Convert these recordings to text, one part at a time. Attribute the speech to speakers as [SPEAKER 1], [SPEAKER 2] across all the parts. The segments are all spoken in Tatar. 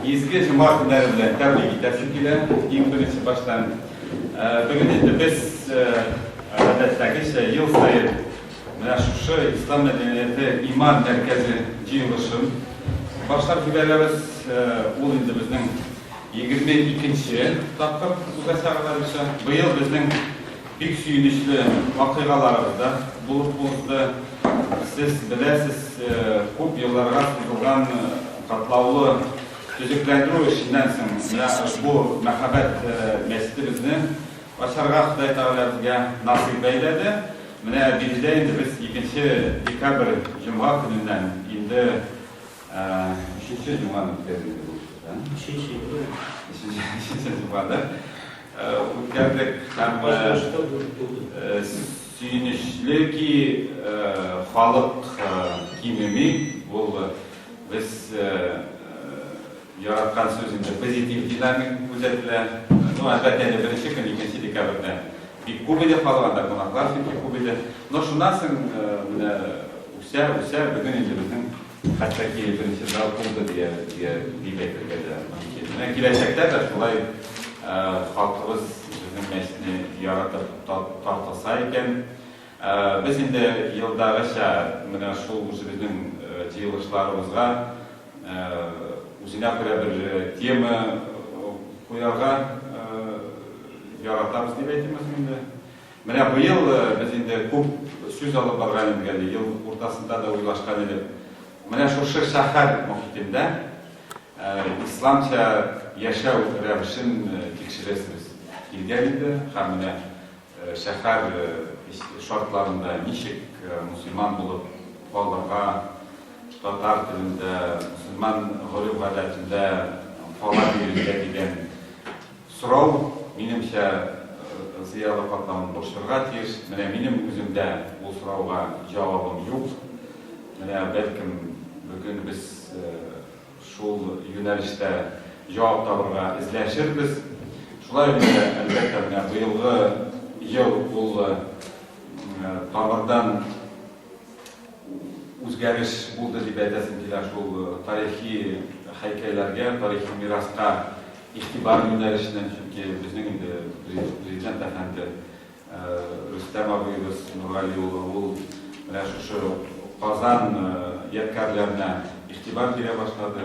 [SPEAKER 1] Изге җома көннәре белән тәбрик итәсем килә. Иң беренче баштан бүген инде без гадәттәгечә ел саен менә шушы ислам мәдәнияте иман мәркәзе җыелышын башлап җибәрәбез. Ул инде безнең 22 нче тапкыр узачак алайса. Быел безнең Бик сөенечле вакыйгаларыбыз да булып узды. Сез беләсез, күп елларга сузылган катлаулы төзекләндерү эшеннән соң менә бу мәһабәт мәчетебезне ачарга Ходай Тәгалә безгә насыйп әйләде. Менә биредә инде без икенче декабрь җомга көненнән инде өченче җомганы үткәрдек, дип уйлыйм. Өченче, өченче. Өченче җомга, да? үткәрдек һәм сөенечле ки, халык кимеми, ул без яраткан сүз инде, позитив динамика күзәтелә. Ну, әлбәттә инде беренче көн, икенче декабрьдә бик күп иде халык, анда кунаклар чөнки күп иде. Но шуннан соң менә үсә, үсә, бүген инде безнең Хәтәки беренче зал булды дияргә, дип әйтергә дә мөмкин. Менә киләчәктә дә шулай халкыбыз безнең мәчетне яратып тартылса икән. Без инде елдагыча менә шул үзебезнең җыелышларыбызга үзенә күрә бер тема куярга яратабыз дип әйтимез инде. Менә быел без инде күп сүз алып барган идек әле, ел уртасында да уйлашкан идек. Менә шушы шәһәр мохитендә исламча яшәү рәвешен тикшерәсебез килгән иде һәм менә шәһәр шартларында ничек мөселман булып калырга, татар телендә, мөселман гореф-гадәтендә кала бирергә дигән Сорау, минемчә, зыялы катламын борчырга тиеш. Менә минем үземдә ул сорауга җавабым юк. Менә, бәлкем, бүген без шул юнәлештә җавап табырга эзләшербез. Шулай ук, әлбәттә, менә быелгы ел ул тамырдан үзгәреш булды дип әйтәсем килә шул тарихи һәйкәлләргә, тарихи мираска. Игътибар юнәлешеннән, чөнки безнең инде Президент әфәнде Рөстәм абыебыз Нургали улы, ул менә шушы Казан ядкарьләренә игътибар бирә башлады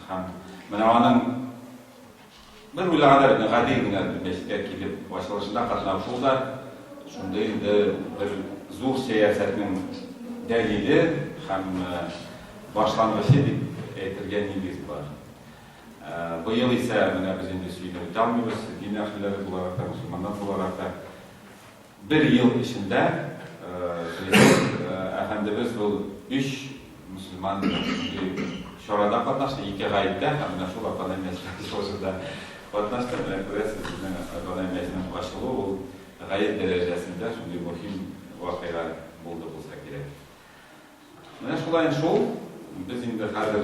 [SPEAKER 1] һәм менә аның бер уйлаганда бит, гади генә мәчеткә килеп ачылышына катнашу да шундый инде бер зур сәясәтнең дәлиле һәм башлангычы дип әйтергә нигез бар. Быел исә менә без инде чигенә үтә алмыйбыз, дин әһелләре буларак та, мөселманнар буларак та. Бер ел эчендә президент әфәндебез бу өч мөселман чарада катнашты, ике гаеттә һәм менә шул Атанай мәчетендә чыгышында катнашты. Менә күрәсез, безнең Атанай мәчетенең ачылуы ул гаять дәрәҗәсендә шундый мөһим вакыйга булды булса кирәк. Менә шулай шул, без инде хәзер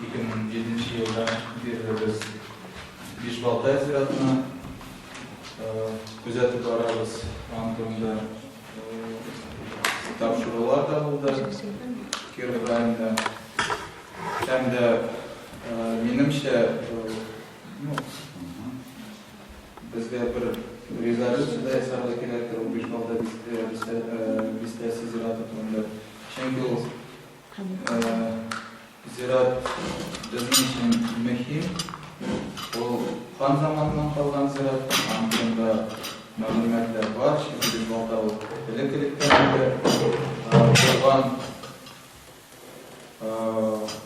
[SPEAKER 2] 2007 елда бирле без Биш Балтай зиратына күзәтеп барабыз. Аның турында тапшырулар да булды Киров районында. Һәм дә минемчә ну, безгә бер резолюция да ясарга кирәктер ул Биш Балтай бистәсе зираты турында. Чөнки ул Зират безнең өчен мөһим. Ул хан заманыннан калган зират. Аның турында мәгълүматлар бар. Чөнки без балта ул элек-электән инде булган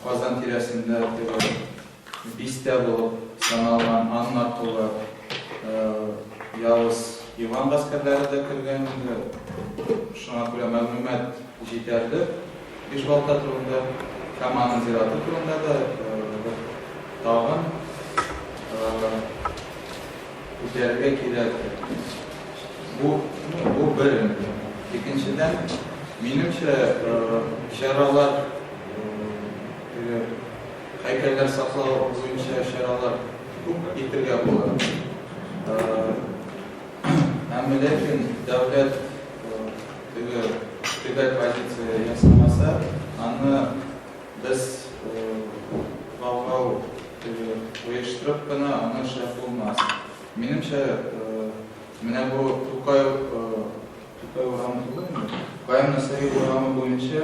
[SPEAKER 2] Казан тирәсендә теге Бистә булып саналган Анна кулы явыз Иван гаскәрләре дә кергән инде. Шуңа күрә мәгълүмат җитәрлек Бишбалта турында һәм аның зираты турында да бер тагын үтәргә кирәк. Бу, ну, бу бер инде. Икенчедән, минемчә, чаралар Һәйкәлләр саклау буенча чаралар күп итергә була. Әмма ләкин дәүләт теге төбәк позиция ясамаса, аны без бавгау оештырып кына аны эшләп булмас. Минемчә, менә бу Тукай Тукай урамы түгелме? Каен Насыйри урамы буенча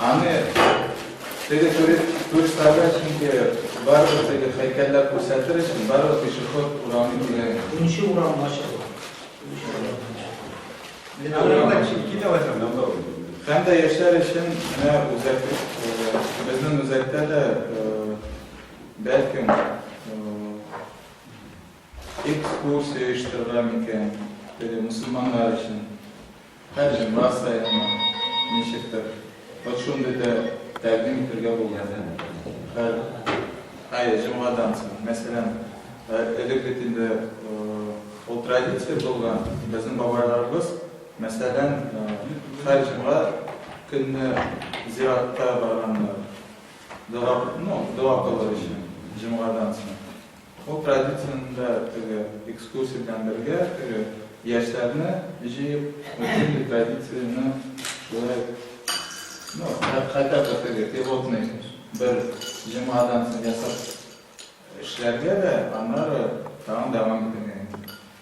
[SPEAKER 2] Аны теге туристларга чөнки барыбер теге һәйкәлләр күрсәтер өчен барыбер пешеход урамы кирәк. Унчы урам
[SPEAKER 3] ачык.
[SPEAKER 2] Һәм дә яшьләр өчен менә үзәк безнең үзәктә дә бәлкем экскурсия оештырыла микән, мөселманнар өчен. Һәр җырлар саекмы, ничектер, вот шундый да тәкъдим итергә булды. Һәр ай җомгадан соң, мәсәлән, элек бит инде ул традиция булган, безнең бабайларыбыз, мәсәлән, һәр җомга көнне зиратка барганнар, дога, ну, дога кылыр өчен, җомгадан соң. Ул традицияне дә теге экскурсия белән бергә теге яшьләрне җыеп, бөтен традицияне шулай, ну, хәтта бер теге пилотный бер җомгадан соң ясап эшләргә дә, аннары тагын дәвам итәргә.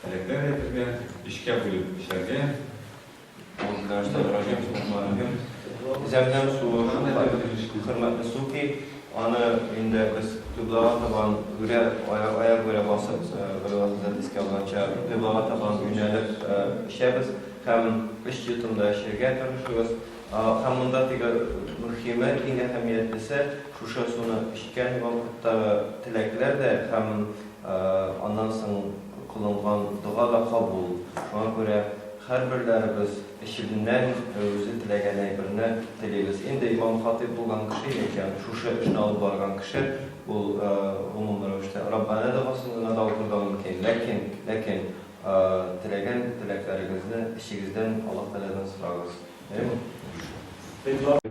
[SPEAKER 1] Теләкләр әйтергә, өчкә бүлеп эшләргә,
[SPEAKER 4] Аңкыдашта район сулыклары һәм зәмзәм суы шул кадәр хөрмәтле су ки, аны инде без кыйблага табан үрә, аяк үрә басып, Галиулла хәзрәт искә алганча, кыйблага табан юнәлеп эчәбез һәм өч йотымда эчәргә тырышыгыз. Һәм монда теге мөхиме, иң әһәмиятлесе, шушы суны эчкән вакыттагы теләкләр дә һәм Аннан соң кылынган дога да кабул. Шуңа күрә һәрберләребез эчебннән үзе теләгән әйберне телибез. Инде имам-хатыйб булган кеше яки шушы эшне алып барган кеше, ул гомум рәвештә Раббана догасын гына да укырга мөмкин. Ләкин, ләкин теләгән теләкләрегезне эчегездән Аллаһ Тәгаләдән сорагыз. Бәйрәм мөбарәк!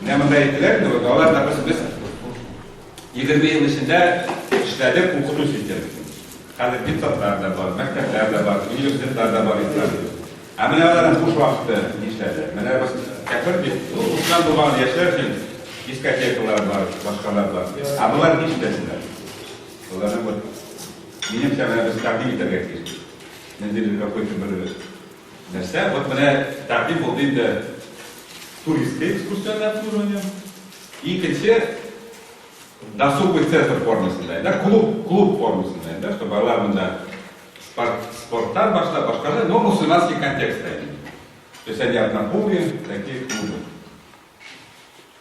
[SPEAKER 1] Менә монда әйттеләр инде, вот алар, допустим, без егерме ел эчендә эшләдек укыту системасын. Хәзер депутатлар да бар, мәктәпләр дә бар, университетлар да бар ислам. Ә менә аларның буш вакыты нишләде? Менә без кәфер бит, ну, укыган булган яшьләр өчен дискотекалар бар, башкалар бар. Ә болар нишләсеннәр? Боларны вот минемчә менә без тәкъдим итәргә тиеш. Менде какой-то бер Нәрсә? Вот менә тәкъдим булды инде туристы экскурсионнар обслуживание. Икенче досуговый центр формасында, да, клуб, клуб формасында, да, что балалар монда спорт, спорттан башлап, башкалар, но мусульманский контекстта. То есть они однополые, такие клубы.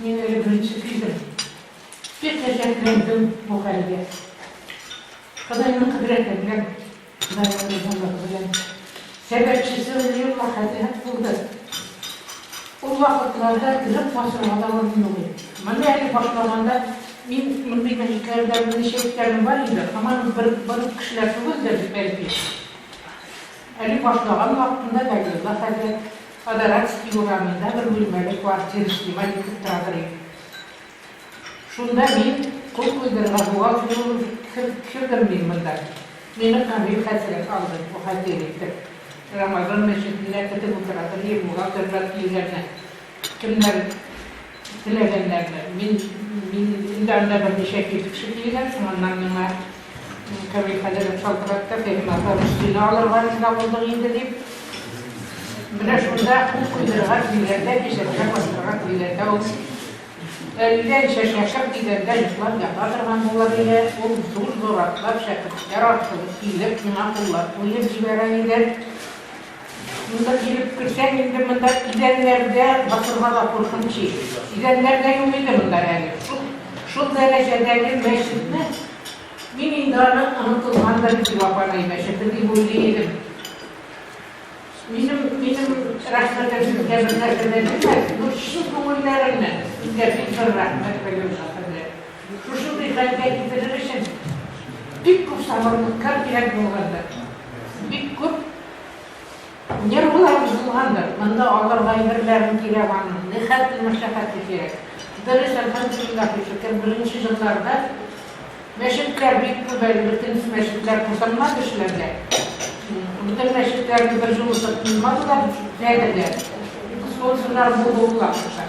[SPEAKER 5] Мин әле беренче килдем. Бик гаҗәпләндем бу хәлгә. Ходайның кодрәте белән, Ходай ризалыгы белән, сәбәпчесе Вәлиулла хаҗи һәк булды. Ул вакытларда элек басырга да урын юк иде. Моны әле башлаганда мин мондый мәчетләрдә берничә иптәшем бар иде, һаман бер бер үк кешеләр түгелдер бит, бәлки. Әле башлаган вакытында Вәлиулла хәзрәт Подаратский урамында бер бүлмәле квартира снимать итеп тора торыйм. Шунда мин, кул куйдырырга бухгалтер булып кердем мин монда. Мине Камил хәзрәт алды бухгалтер итеп. Рамазан мәчетендә көтеп утыра торыйм, бухгалтерлар килгәнне. Кемнәр. Теләгәннәрне. Мин, мин инде анда берничә кибетче килгән, шуңаннан миңа Камил хәзрәт шалтыратты, Фәһим апа, без сине алырга риза булдык инде, дип. Менә шунда кул куйдырырга дигәндә, кесәсенә кыстырырга дигәндә, ул әллә ничә шәкерт дигәндә йоклап ята торган булыр иде, ул зур-зур атлап, шәкертләр аркылы килеп, миңа куллар куеп җибәрә иде. Монда килеп керсәң инде монда идәннәрдә басырга да куркыныч иде. Идәннәр дә юк иде монда әле. Шул, шул дәрәҗәдәге мәчетне мин инде аны онытылгандыр инде Вафанай мәчете дип уйлый идем. Минем, минем рәхмәтем сезгә бернәрсә дә бирмәде, ну чын күңелләреннән сезгә бик зур рәхмәт белдерәм. Шушындый хәлгә китерер өчен бик күп сабырлыкка кирәк булгандыр, бик күп нервылар бозылгандыр, монда алар гайберләрен кирәк аның, нихәтле мәшәкате кирәк. Дөрес, әлхәмдулиллаһи шөкер, беренче елларда мәчетләр бик күп әле, бөтен мәчетләр тутырмады эшләргә. Бөтен мәчетләрне бер җылытып куймадылар, әле дә, экскурсияләр булу вакытта.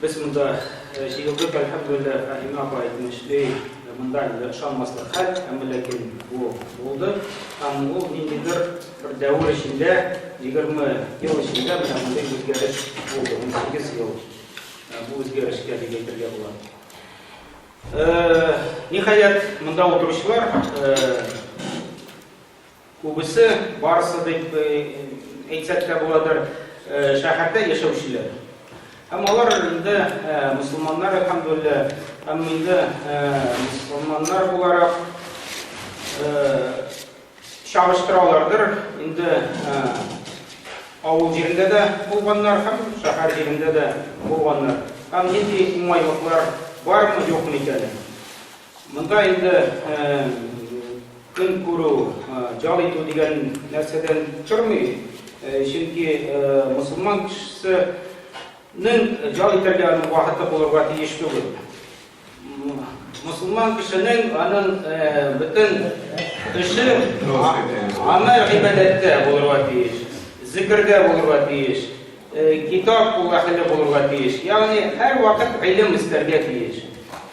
[SPEAKER 6] Без монда җыелдык, әлхәмдүлилләһ, Фаһимә апа әйтмешли, монда әле ышанмаслык хәл, әмма ләкин бу булды. Һәм ул ниндидер бер дәвер эчендә, егерме ел эчендә менә мондый үзгәреш булды. Унсигез ел бу үзгәрешкә дип әйтергә була. Ниһаять, монда утыручылар Күбесе, барысы дип әйтсәк тә буладыр, шәһәрдә яшәүчеләр. Һәм алар инде мөселманнар, әлхәмдүлилләһ. Һәм инде мөселманнар буларак, чагыштыралардыр, инде авыл җирендә дә булганнар һәм шәһәр җирендә дә булганнар. Һәм нинди уңайлыклар бармы, юкмы икәнен. Монда инде көн күрү, җал итү дигән нәрсәдән тормый, чөнки мөселман кешесенең җал итәргә аның вакыты булырга тиеш түгел. Мөселман кешенең аның бөтен эше аны гыйбадәттә булырга тиеш, зикердә булырга тиеш. Китап ул әһеле булырга тиеш, ягъни һәрвакыт гыйлем эстәргә тиеш.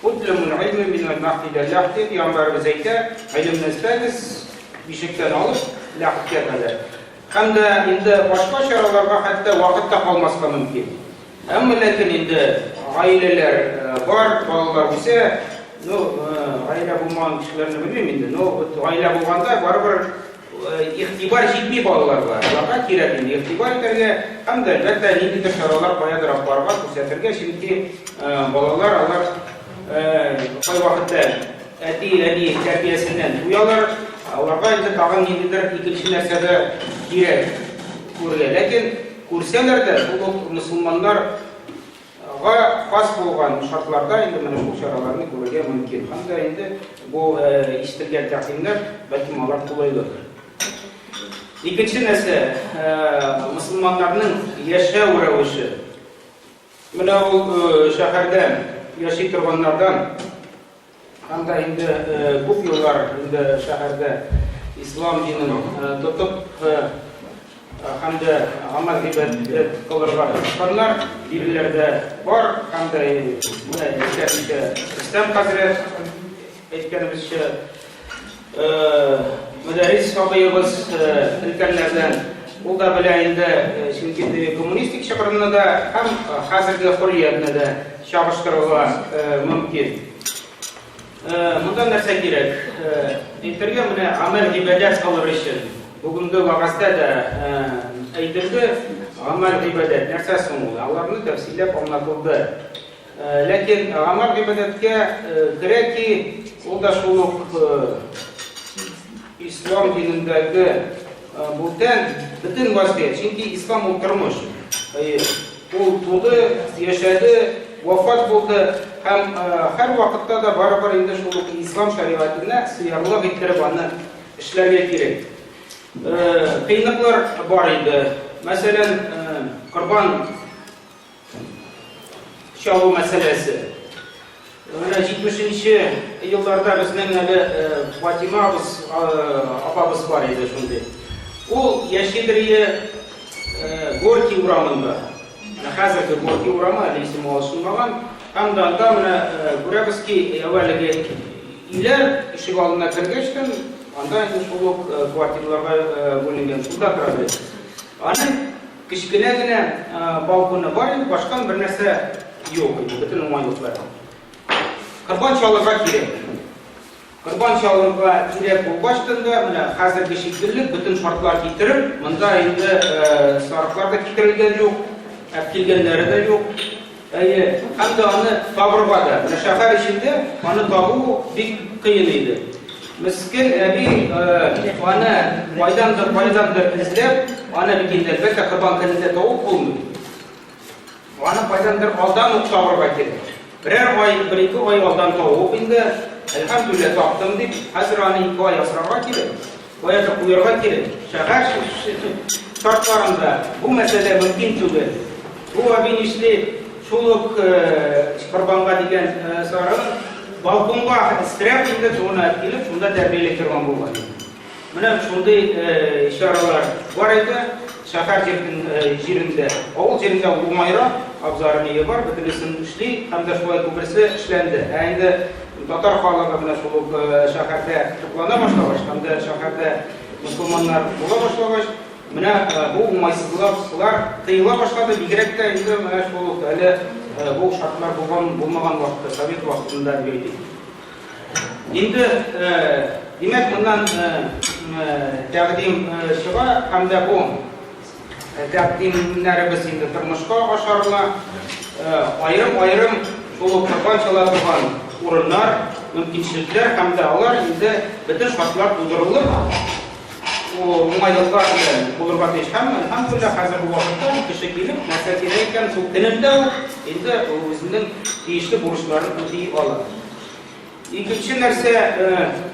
[SPEAKER 6] Утлумул гыйлме мин аль-мәһд илә ләһд, дип пиамбарыбыз әйтә, гыйлемне эстәгез, бишектән алып, ләһдкә кадәр. Һәм дә инде башка чараларга хәтта вакыт та калмаска мөмкин. Әмма ләкин инде гаиләләр бар, балалар үсә, ну, гаилә булмаган кешеләрне белмим инде, но вот гаилә булганда барыбер, Игътибар җитми балаларга, аларга кирәк инде игътибар итәргә һәм дә, әлбәттә, ниндидер чаралар каядыр алып барырга, күрсәтергә, чөнки балалар алар кайвакытта әти-әни тәрбиясеннән туялар, аларга инде тагын ниндидер икенче нәрсә дә кирәк күрергә. Ләкин күрсәләр дә, шул ук мөселманнар Га хас булган шартларда инде менә шул чараларны күрергә мөмкин. Һәм дә инде бу ишетелгән тәкъдимнәр, бәлки алар кулайлыдыр. Икенче нәрсә, мөселманнарның яшәү рәвеше. Менә ул шәһәрдә яши торганнардан Анда инде күп еллар инде шәһәрдә ислам динен тотып һәм дә аңа гыйбадәт кылырга тырышканнар, биреләр дә бар һәм дә менә әйтә Рөстәм хәзрәт әйткәнебезчә, Мөдәррис сабыебыз өлкәннәрдән, ул да белә инде, чөнки теге коммунистик чокырны да һәм хәзерге хөрриятне дә чагыштырырга мөмкин. Монда нәрсә кирәк? Әйтергә менә гамәл гыйбадәт кылыр өчен. Бүгенге вәгазьдә дә әйтелде, гамәл гыйбадәт нәрсә соң ул? Аларны тәфсилләп аңлатылды. Ләкин Гамар гыйбадәткә керә ки, ул да шул ук ислам динендәге бүтән бөтен вазгыять. Чөнки ислам ул тормыш. Ул туды, яшәде, вафат булды һәм һәр вакытта да барыбер инде шул ук ислам шәригатенә сыярлык иттереп аны эшләргә кирәк. Кыйныклар бар иде. Мәсәлән, корбан чалу мәсьәләсе. Менә 70-нче елларда безнең әле Фатима абыз, апабыз бар иде шундый. Ул Яшелрие Горький урамында. Менә хәзерге Горький урамы әле исеме алышынмаган. Һәм да анда менә күрәбез ки, әүвәлеге өйләр ишек алдына кергәч тә, анда инде шул ук квартирларга бүленгән. Шунда тора иде. Аның Кечкенә генә балконы бар иде, башка бернәрсә юк иде, бөтен уңайлыклар. Корбан чалырга кирәк. Корбан чалырга кирәк булгач тында, менә хәзерге шикелле бөтен шартлар китереп, монда инде сарыклар да китерелгән юк, әп килгәннәре дә юк. Әйе, һәм дә аны табырга да. Менә шәһәр эчендә аны табу бик кыен иде. Мескен әби аны кайдандыр, кайдандыр эзләп, аны бит инде әлбәттә Корбан көнендә табып булмый. Аны кайдандыр алдан ук табырга кирәк. Берәр ай, бер-ике ай алдан табып инде, әлхәмдүлилләһ, таптым дип, хәзер аны ике ай асрарга кирәк. Каян куярга кирәк? Шәһәр шартларында бу мәсьәлә мөмкин түгел. Бу әби нишли, шул ук корбанга дигән сарын балконга стряп инде суына килеп, шунда тәрбияләй торган булган. Менә шундый чаралар бар иде шәһәр җирендә. Авыл җирендә уңайрак, абзары-мие бар, бөтенесен эшли һәм дә шулай күбесе эшләнде. Ә инде Татар халыгы менә шул ук шәһәрдә туплана башлагач һәм дә шәһәрдә мөселманнар була башлагач, менә бу уңайсызлыклар тыела башлады, бигрәк тә инде менә шул ук әле бу шартлар булган булмаган вакытта, совет вакытында дип әйтик. Инде димәк, моннан тәкъдим чыга һәм дә бу Тәкъдим итүләребез инде тормышка ашарына, аерым-аерым шул корбан чала торган урыннар, мөмкинчелекләр һәм дә алар инде бөтен шартлар тудырылып, уңайлыклар белән булырга тиеш. Һәм, әлхәмдүлилләһ, хәзерге вакытта кеше килеп, нәрсә кирәк икән, шул көнендә үк инде үзенең тиешле бурычларын үти ала. Икенче нәрсә,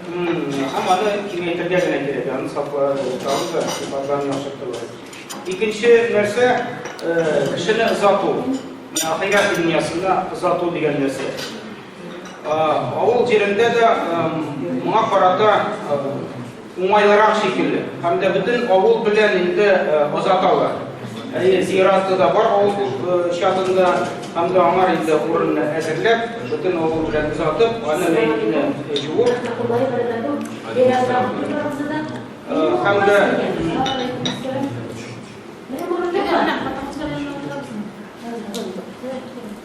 [SPEAKER 6] һәм аны киңәйтергә генә кирәк, аны сакларга да, сыйфатларын яхшыртырга. Икенче нәрсә, кешене озату, ахирәт дөньясына озату дигән нәрсә. Авыл җирендә дә моңа карата Уңайлырак шикелле. Һәм дә бөтен авыл белән инде озаталар. Әйе, зиратта да бар авыл чатында, һәм дә аңар инде урынны әзерләп, бөтен авыл белән озатып, аны мәетне җуып. Һәм дә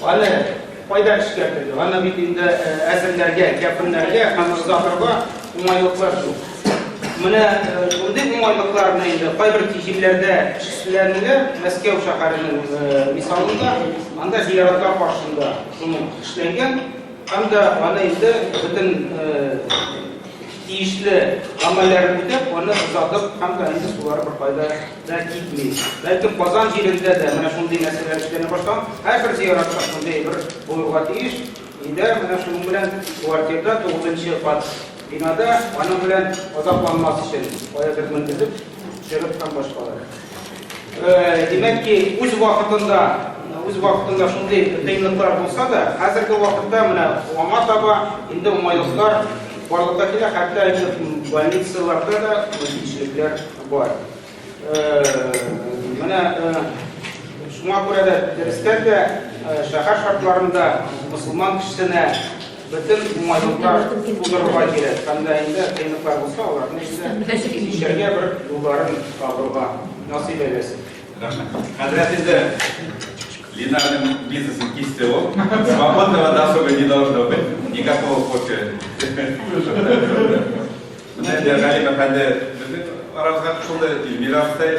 [SPEAKER 6] Аны кайда эшкәртергә? Аны бит инде әзерләргә, кәпеннәргә һәм озатырга уңайлыклар юк. Менә шундый уңайлыкларны инде кайбер җирләрдә эшләнелә, Мәскәү шәһәренең мисалында, анда зияратлар каршында шуны эшләнгән, һәм дә аны инде бөтен тиешле гамәлләрен үтәп, аны озатып һәм дә инде сулары бер кайда да китми. Бәлки Казан җирендә дә менә шундый нәрсәләр эшләнә башлаган. Һәрбер зиратта шундый бер булырга тиеш. Өйдә менә шуның белән квартирада тугызынчы кат бинада аның белән азапланмас өчен каядыр менгезеп төшереп һәм башкалар. Димәк ки, үз вакытында үз вакытында шундый кыенлыклар булса да, хәзерге вакытта менә аңа таба инде уңайлыклар барлыкка килә, хәтта инде больницаларда да мөмкинчелекләр Бар. Менә шуңа күрә дә дәрестән дә шәһәр шартларында мусулман кешесенә бөтен уңайлыклар тудырырга кирәк. Һәм дә инде кыенлыклар булса, аларны инде кичәргә бер юлларын табырга насыйп әйләсен. Рәхмәт. Хәзрәт
[SPEAKER 1] инде Линарның бизнесын кисте ул. Свободного досуга не должно быть. Никакого кофе. Менә инде Галим әфәнде безнең арабызга кушылды, Эльмира абыстай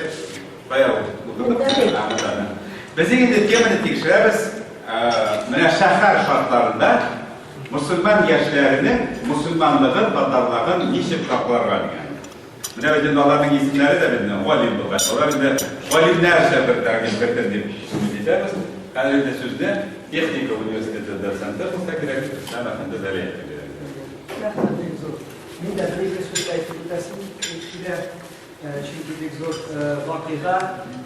[SPEAKER 1] бая утырды. Без инде теманы тикшерәбез. Менә шәһәр шартларында мусульман яшьләренең мусульманлыгын, татарлыгын ничек сакларга дигән. Менә бит инде аларның исемнәре дә безне Галим булган. Алар инде галимнәрчә бер тәкъдим кертер дип сүз итәбез. Хәзер инде сүзне техника университеты доценты булса кирәк, Ислам әфәнде Зәлиев. Рәхмәт.
[SPEAKER 7] Мин дә бер-ике сүз әйтеп үтәсем килә, чөнки бик зур вакыйга.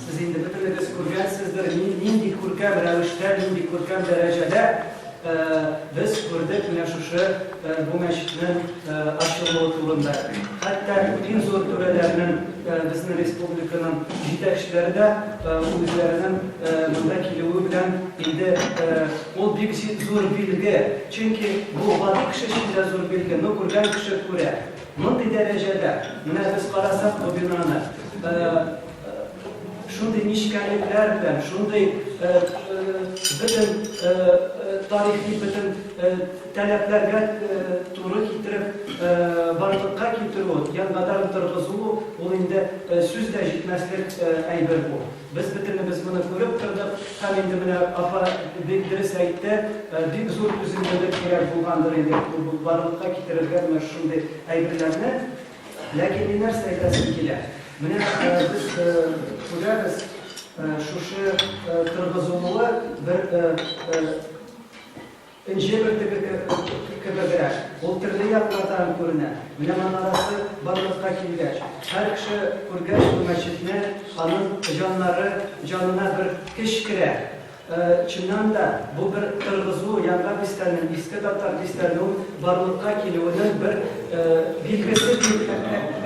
[SPEAKER 7] Сез инде бөтенегез күргәнсездер, нинди күркәм рәвештә, нинди күркәм дәрәҗәдә без күрдек менә шушы бу мәчетнең ачылуы турында. Хәтта иң зур түрәләрнең, безнең республиканың җитәкчеләре дә үзләренең монда килүе белән инде Ул бик зур билге, чөнки бу гади кеше өчен дә зур билге, ну күргән кеше күрә. Мондый дәрәҗәдә, менә без карасак бу бинаны, шундый нечкәлекләр белән, шундый бөтен тарихи бөтен таләпләргә туры китереп барлыкка китерү, янбадан торгызу, ул инде сүз дә җитмәслек әйбер бу. Без бөтенебез моны күреп тордык һәм инде менә апа бик дөрес әйтте, бик зур түземлелек кирәк булгандыр инде барлыкка китерергә менә шушындый әйберләрне. Ләкин мин нәрсә әйтәсем килә, менә без күрәбез, шушы торгызылуы бер Энҗе бөртеге кебегрәк, ул төрле яклардан күренә. Менә манарасы барлыкка килгәч, һәр кеше күргәч бу мәчетне, аның җаннары җанына бер көч керә. Чыннан да, бу бер торгызу, Яңа бистәнең, Иске Татар бистәнеү барлыкка килүенең бер билгесе, дип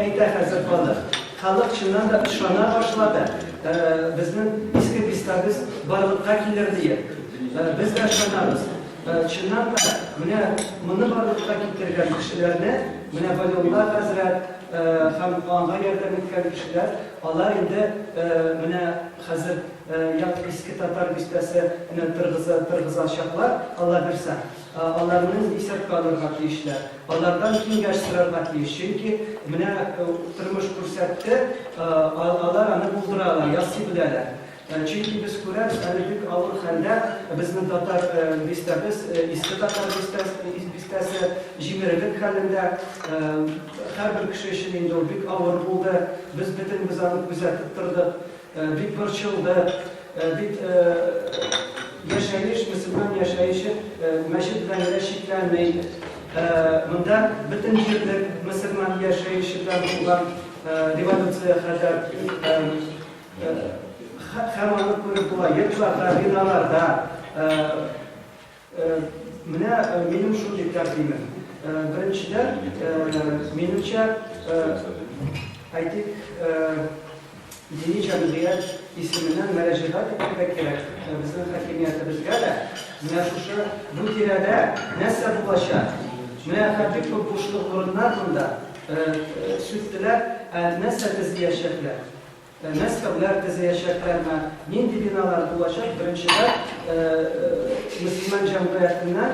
[SPEAKER 7] әйтә хәзер халык. Халык чыннан да ышана башлады, безнең Иске бистәбез барлыкка килер диеп. Без дә ышанабыз. Чыннан да, менә моны барлыкка китергән кешеләрне, менә Вәлиулла хәзрәт һәм аңа ярдәм иткән кешеләр, алар инде менә хәзер як Иске Татар бистәсе не тыргыза тыргызачаклар, Аллабирса. Аларны исәпкә алырга тиешләр. Алардан киңәш сорарга тиеш. Чөнки менә тормыш күрсәтте, алар аны булдыра ала, ясый беләләр. Чөнки без күрәбез, әле бик авыр хәлдә безнең татар бистәбез, Иске Татар бистәсе, җимерелек хәлендә. Һәрбер кеше өчен инде ул бик авыр булды. Без бөтенебез аны күзәтеп тордык. Бик борчылдык. Бит яшәеш, мөселман яшәеше мәчет белән генә чикләнми. Монда бөтен җирлек мөселман яшәеше белән булган революция хәзер. Һәм аны күреп була, йортларда, биналарда. Менә минем шундый тәкъдимем. Беренчедән, минемчә, әйтик, дини җәмгыять исеменнән мөрәҗәгать итәргә кирәк безнең хакимиятебезгә дә. Менә шушы бу тирәдә нәрсә булачак? Менә бик күп бушлык урыннар монда. Сүттеләр, нәрсә төзиячәкләр? Мәскәүләр төзеячәкләрме, нинди биналар булачак, беренчедән, мөселман җәмгыятеннән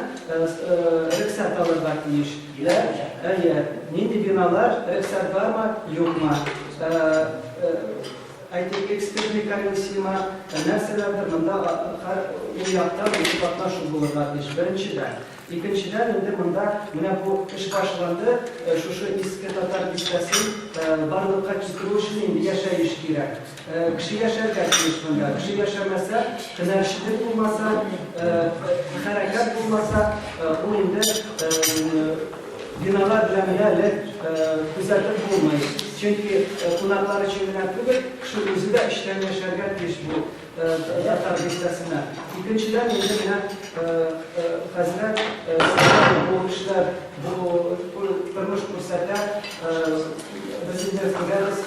[SPEAKER 7] рөхсәт алырга тиеш. Әйе, нинди биналар, рөхсәт бармы, юкмы, әйтик, экспертный комиссиямы, нәрсәләрдер, монда һәр яктан үзе катнашу булырга тиеш, беренчедән. Икенчедән инде монда менә бу эш башланды, шушы Иске Татар бистәсен барлыкка китерү өчен инде яшәеш кирәк. Кеше яшәргә тиеш монда. Кеше яшәмәсә, һөнәрчелек булмаса, хәрәкәт булмаса, ул инде биналар белән генә элек күзәтеп булмый. Чөнки кунаклар өчен генә түгел, кеше үзе дә эчтән яшәргә тиеш бу Татар традициясенә. Икенчедән, инде менә хәзрәт сөйләде, бу эшләр, бу тормыш күрсәтә. Без инде күрәбез,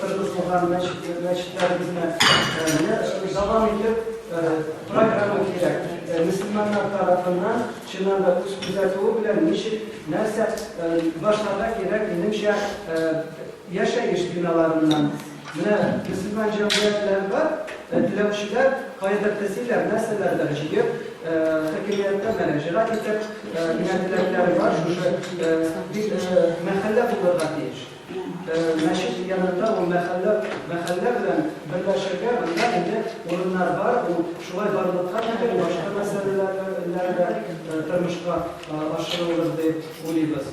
[SPEAKER 7] торгызылган мәчетләребезне. Менә дәвам итеп программа кирәк. Мөселманнар тарафыннан, чыннан да, үз күзәтүе белән ничек, нәрсә башларга кирәк, минемчә, Яшәеш биналарыннан. Менә мөселман җәмгыятьләре бар, теләүчеләр кайдыр тезиләр, нәрсәләрдер җыеп, хакимияткә мөрәҗәгать итеп, менә теләкләре бар, шушы бит мәхәллә булырга тиеш. Мәчет янында ул мәхәллә, мәхәллә белән берләшергә, анда инде урыннар бар, ул шулай барлыкка китереп, башка мәсьәләләр, ләр дә тормышка ашырырбыз дип уйлыйбыз.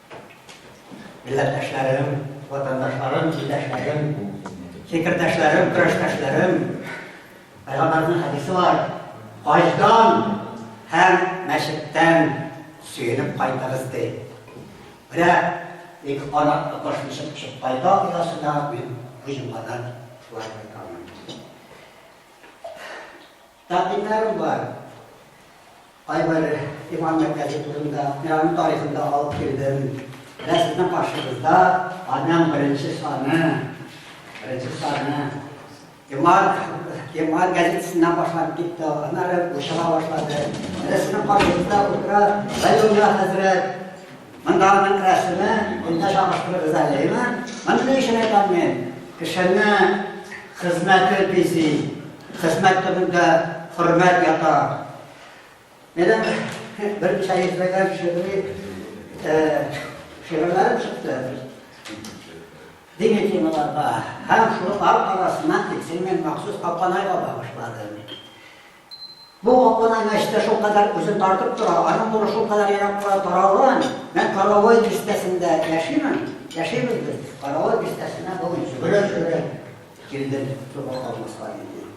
[SPEAKER 8] Милләттәшләрем, ватандашларым, илдәшләрем, фикердәшләрем, көрәштәшләрем, Пәйгамбәрнең хәдисе бар. Хаҗдан һәм мәчеттән сөенеп кайтыгыз ди. Менә ник ана кошны чыгып чыгып кайта оясына мин бу җомгадан шулай кайтамын. Тәкъдимнәрем бар. Кайбер иман мәктәбе турында, мин аның тарихын да алып килдем. Менә сезнең каршыгызда аның беренче саны, беренче саны. Иман, иман газетасыннан башланып китте, аннары бушала башлады. Менә сезнең каршыгызда утыра Районда хәзрәт Монда аның рәсеме, монда чагыштырып эзәләйме? Моны ни өчен әйтәм мин? Кешене хезмәте бизи, хезмәт төбендә хөрмәт ята. Менә бер ничә йөзләгән шигъри шигырьләрем чыкты. Дини темаларда һәм шулар арасыннан тиксен мен махсус Апанайга багышладым. Бу гапона мәчете шулкадәр үзен тартып тора, аның нуры шулкадәр еракка таралган. Мин Каравай бистәсендә яшимен, яшибез без. Каравай бистәсенә бүген йөгерә-йөгерә килдем, туган калмаска диде.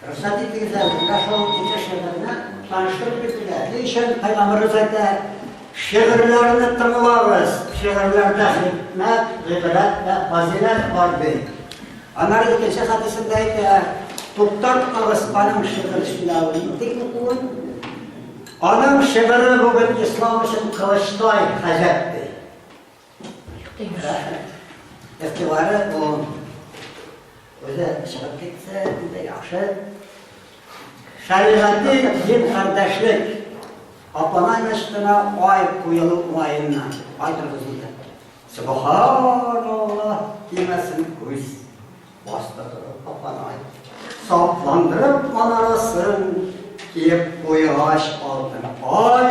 [SPEAKER 8] Рөхсәт итегез әле, менә шул ике шигырьне таныштырып китергә. Ни өчен Пәйгамбәребез әйтә, шигырьләрне тыңлагыз, шигырьләрдә хикмәт, гыйбрәт вә фазыйләт бар ди. Аннары икенче хәдисендә әйтә, туктатмагыз аның шигырь сөйләвен, дип укуын. Аның шигыре бүген ислам өчен кылычтай хаҗәт ди. Ихтибары бу. Үзе чыгып китсә, инде яхшы. Шәригати дин кардәшлек. Апана мәчетенә ай куелу уңаеннан. Ай торгызылды. Субханаллаһ димәсен күз, басты торып апанай. Сапландырып манарасын киеп куйгач алтын ай,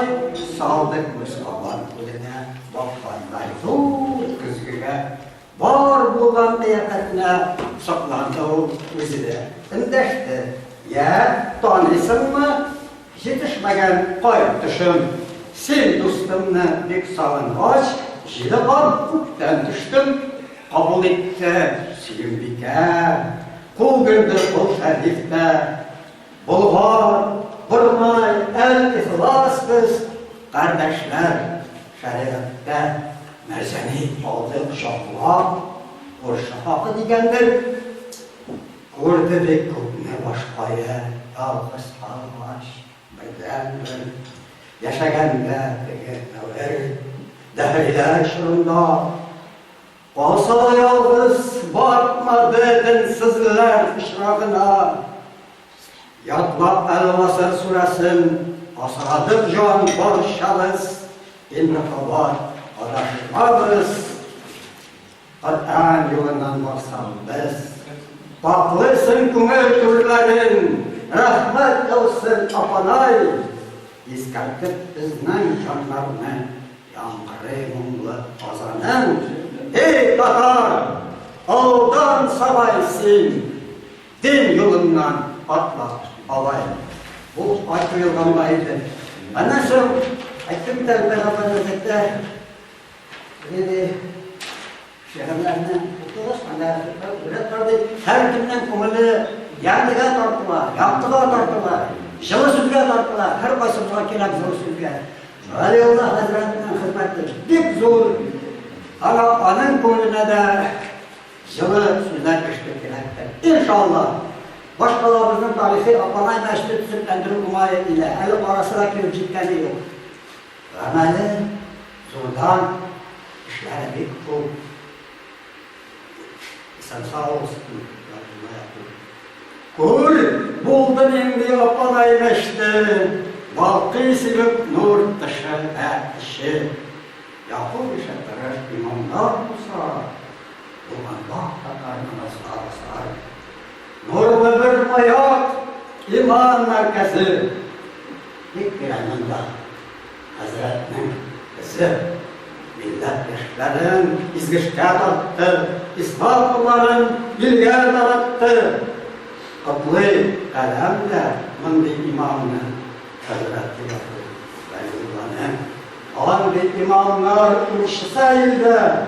[SPEAKER 8] салды күз кабан күленә баккандай зур көзгегә. Бар булган кыяфәтенә сокланды ул үзе дә. Эндәште. Йә, таныйсыңмы? Җитешмәгән кай төшем. Син дустымны бик сагынгач, Җиде кат күктән төштем. Кабул итте Сөембикә. Күгенде кол Шәриф тә. Болгар, Борнай, Әл-Ихлас без кардәшләр шәригатьтә. Мәрҗани алды кочаклап. Күрше хакы дигәндер. Күрде бит күпне баш кая, ялгыз калгач, бердәнбер. Яшәгәндә теге дәвер, дәһриләр чорында. Калса да ялгыз, батмады денсезләр пычрагына. Ятлап Әл-Гасыр сүрәсен, асрадык җан барчабыз, инде кабат адашмабыз. Коръән юлыннан барсаң без. Пакълыйсың күңел түрләрен, Рәхмәт яусын, апанай! Искәртеп безнең җаннарны, Яңгырый моңлы азаның. Эй, татар, алдан сабай син, Дин юлыннан атла, бабай! Бу ай куелганга иде. Аннан соң, әйтеп тә үтә Әйдә, шигырьләрне укыгыз, анда бүләк бар бит. Һәркемнең күңеле яндыга тартыла, яктыга тартыла, җылы сүзгә тартыла. Һәр кайсы була кирәк җылы сүзгә. Галиулла хәзрәтнең хезмәте бик зур. Ана аның күңеленә дә җылы сүзләр ишетү кирәктер. Иншалла. Башкалабызның тарихи апанай мәчете төзекләндерү уңае илә. Әле карасы да килеп җиткәне юк. Гамәле зурдан, эшләре бик күп. Исән сау булсын, Габдулла әби. Күр, булды нинди апана иреште, балкый сибеп нур тышы, ә теше. Яку ише тырыш имамдар булса, булганда татар намазлары сарай. Нурлы бер маяк, иман мәркәзе. Бик кирәгендә хәзрәтнең эзе милләт яшьләрен изгешкә тартты, ислам кулларын илгә таратты. Котлый каләм дә мондый имамны хәзрәтне яклый. Андый имамнар урышлар илдә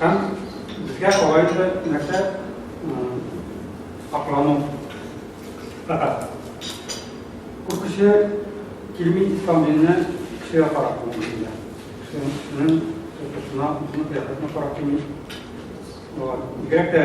[SPEAKER 6] Һәм безгә алай да нәрсә аклану татар. Күп кеше килми ислам диненә кешегә карап булмыйда. Кешенең тотышына, үзенең кыяфәтенә карап килми. Бигрәк тә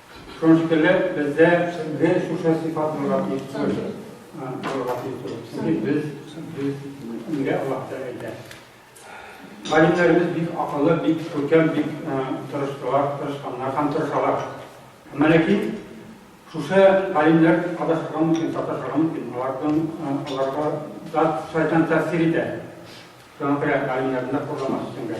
[SPEAKER 9] Шуныштеләр, бездә бе шушы сыйфат булырга тиеш түгел. Булырга тиеш түгел. Чөнки без, без нигә Аллаһ Тәгалә әйтә? Галимнәребез бик акыллы, бик күркәм, бик тырыштылар, тырышканнар һәм тырышалар. Әмма ләкин шушы галимнәр адашырга мөмкин, саташырга мөмкин. Алардан аларга да шайтан тәэсир итә. Шуңа күрә галимнәрне дә курламас өчен дә.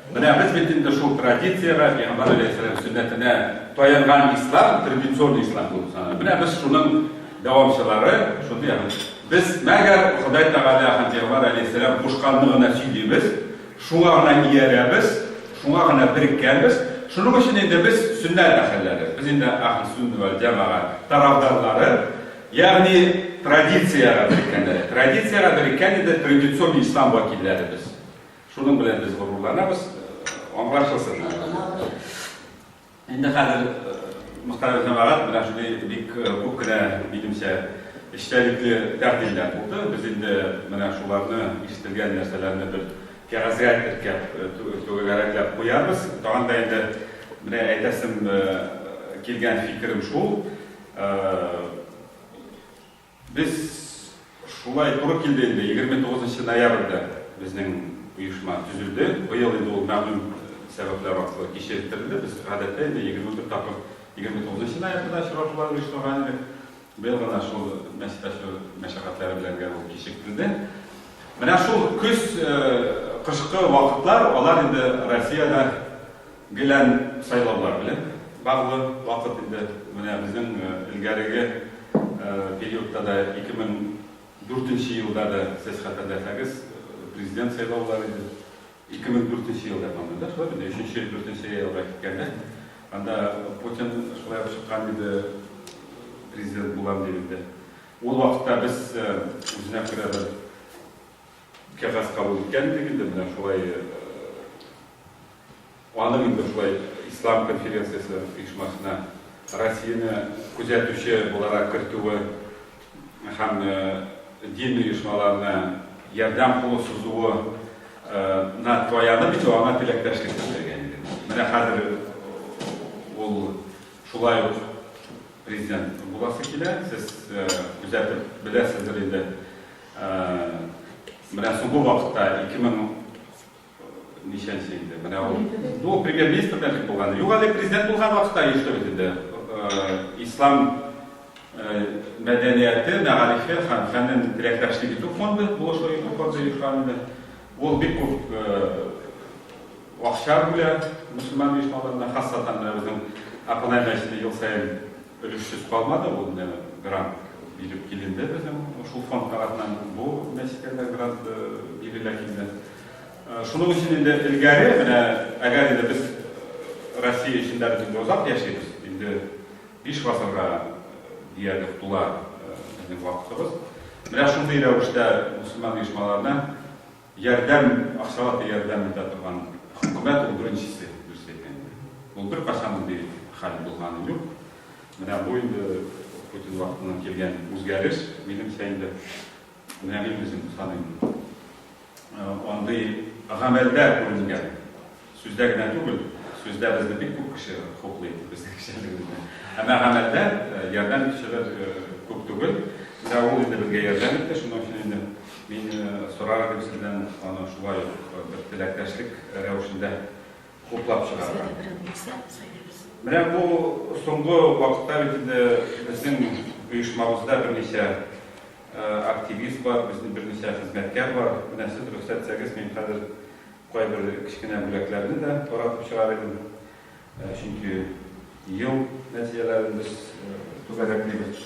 [SPEAKER 1] Менә без бит инде шул традициягә, Пәйгамбәр алейһиссәлам сөннәтенә таянган ислам, традицион ислам булып санала. Менә без шуның дәвамчылары, шуны ягъни без мәгәр Ходай Тәгалә һәм Пәйгамбәр алейһиссәлам кушканны гына сөйлибез, шуңа гына иярәбез, шуңа гына береккәнбез. Шуның өчен инде без сөннәт әһелләре, без инде әһле-сөннә вәл җәмәга тарафдарлары, ягъни традициягә береккәннәр. Традициягә береккән инде традицион ислам вәкилләре без. Шуның белән без горурланабыз, аңлашылсын. Инде хәзер мөхтәрәм җәмәгать менә шундый бик күп кенә, минемчә, эчтәлекле тәкъдимнәр булды. Без инде менә шуларны, ишетелгән нәрсәләрне бер кәгазьгә теркәп, түгәрәкләп куябыз. Тагын да инде менә әйтәсем килгән фикерем шул. Без шулай туры килде инде, 29 нчы ноябрьдә безнең оешма төзелде. Быел инде ул мәгълүм сәбәпләр аркылы кичектерелде. Без гадәттә инде 21 тапкыр 29 нчы ноябрьдә очрашулар оештырган идек. Быел гына шул мәчет ачу мәшәкатьләре белән генә ул кичектерелде. Менә шул көз, кышкы вакытлар, алар инде Россиядә, Гелән сайлаулар белән баглы вакыт инде. Менә безнең элгәреге периодта да, 2004 нче елда да, сез хәтерләсәгез, президент сайлаулар иде. 2004 нче елда, по-моему, да, шулай мени? Өченче, дүртенче елга киткәндә, анда Путин шулай ук чыккан иде, президент булам дип инде. Ул вакытта без үзенә күрә бер кәгазь кабул иткән идек инде, менә шулай, Аның инде шулай Ислам конференциясе оешмасына Россияне күзәтүче буларак кертүе һәм дин оешмаларына ярдәм кулы сузуы на таянып инде аңа теләктәшлек белдергән иде. Менә хәзер ул шулай ук президент буласы килә, сез күзәтеп беләсездер инде. Менә соңгы вакытта 2000 Ничәнче инде, менә ул. Ну, премьер-министр белән тик булган. Юк әле, президент булган вакытта оештырыйбыз инде. Ислам мәдәнияте, мәгарифе һәм фәнен теләктәшлек итү фонды, булышу итү фонды оешкан инде. Ул бик күп акча бүлә мөселман оешмаларына, хасатан менә безнең Апанай мәчете ел саен өлешсез калмады, ул менә грант биреп киленде безнең шул фонд тарафыннан. Бу мәчеткә дә грант бирелә килде. Шуның өчен инде элгәре, менә әгәр инде без Россия эчендә без инде озак яшибез, инде биш гасырга диярлек тула безнең вакытыбыз. Менә шундый рәвештә мөселман оешмаларына ярдәм, акчалата ярдәм итә торган хөкүмәт ул беренчесе, дөрес әйткәндә. Ул беркайчан мондый хәл булганы юк. Менә бу инде Путин вакытыннан килгән үзгәреш, минемчә инде. Менә мин үзем саныйм. Андый гамәлдә күренгән, сүздә генә түгел, сүздә безне бик күп кеше хуплый, безнең эшчәнлегебезне. Әмма гамәлдә ярдәм итүчеләр күп түгел. Менә ул инде безгә ярдәм итте, шуның өчен инде мин сорар идем сездән аны шулай ук бер теләктәшлек рәвешендә хуплап чыгарга. Менә бу соңгы вакытта бит инде безнең оешмабызда берничә активист бар, безнең берничә хезмәткәр бар. Менә сез рөхсәт итсәгез, мин хәзер кайбер кечкенә бүләкләрне дә таратып чыгар идем. Чөнки ел нәтиҗәләрен без түгәрәклибез.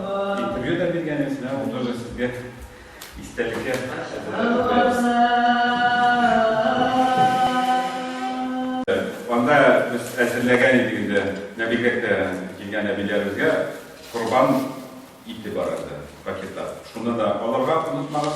[SPEAKER 1] Интервью да биргәнез, менә ул тоже сезгә истәлеккә. Анда без әзерләгән идек инде Нәбигәккә килгән әбиләребезгә корбан ите бар иде пакетта. Шуны да алырга онытмагыз.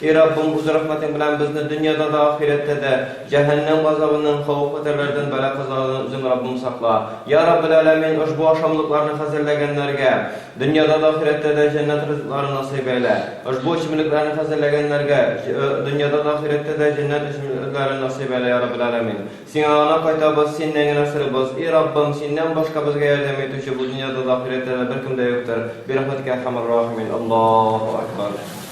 [SPEAKER 4] И Раббым, үз рәхмәтең белән безне дөньяда да, ахирәттә дә җәһәннәм газабыннан, хавыф-хәтәрләрдән, бәла-казалардан үзең, Раббым, сакла. Йа Раббел Әләмин, ошбу ашамлыкларны хәзерләгәннәргә дөньяда да, ахирәттә дә җәннәт ризыкларын насыйп әйлә. Ошбу эчемлекләрне хәзерләгәннәргә дөньяда да, ахирәттә дә җәннәт эчемлекләрен насыйп әйлә, йа Раббел Әләмин. Сиңа гына кайтабыз, Синнән генә сорыйбыз. И Раббым, Синнән башка безгә ярдәм итүче бу дөньяда да, ахирәттә дә беркем дә юктыр. Бирәхмәтикә,
[SPEAKER 1] Әрхәмәр-Рәхимин.
[SPEAKER 4] Аллаһу әкбар.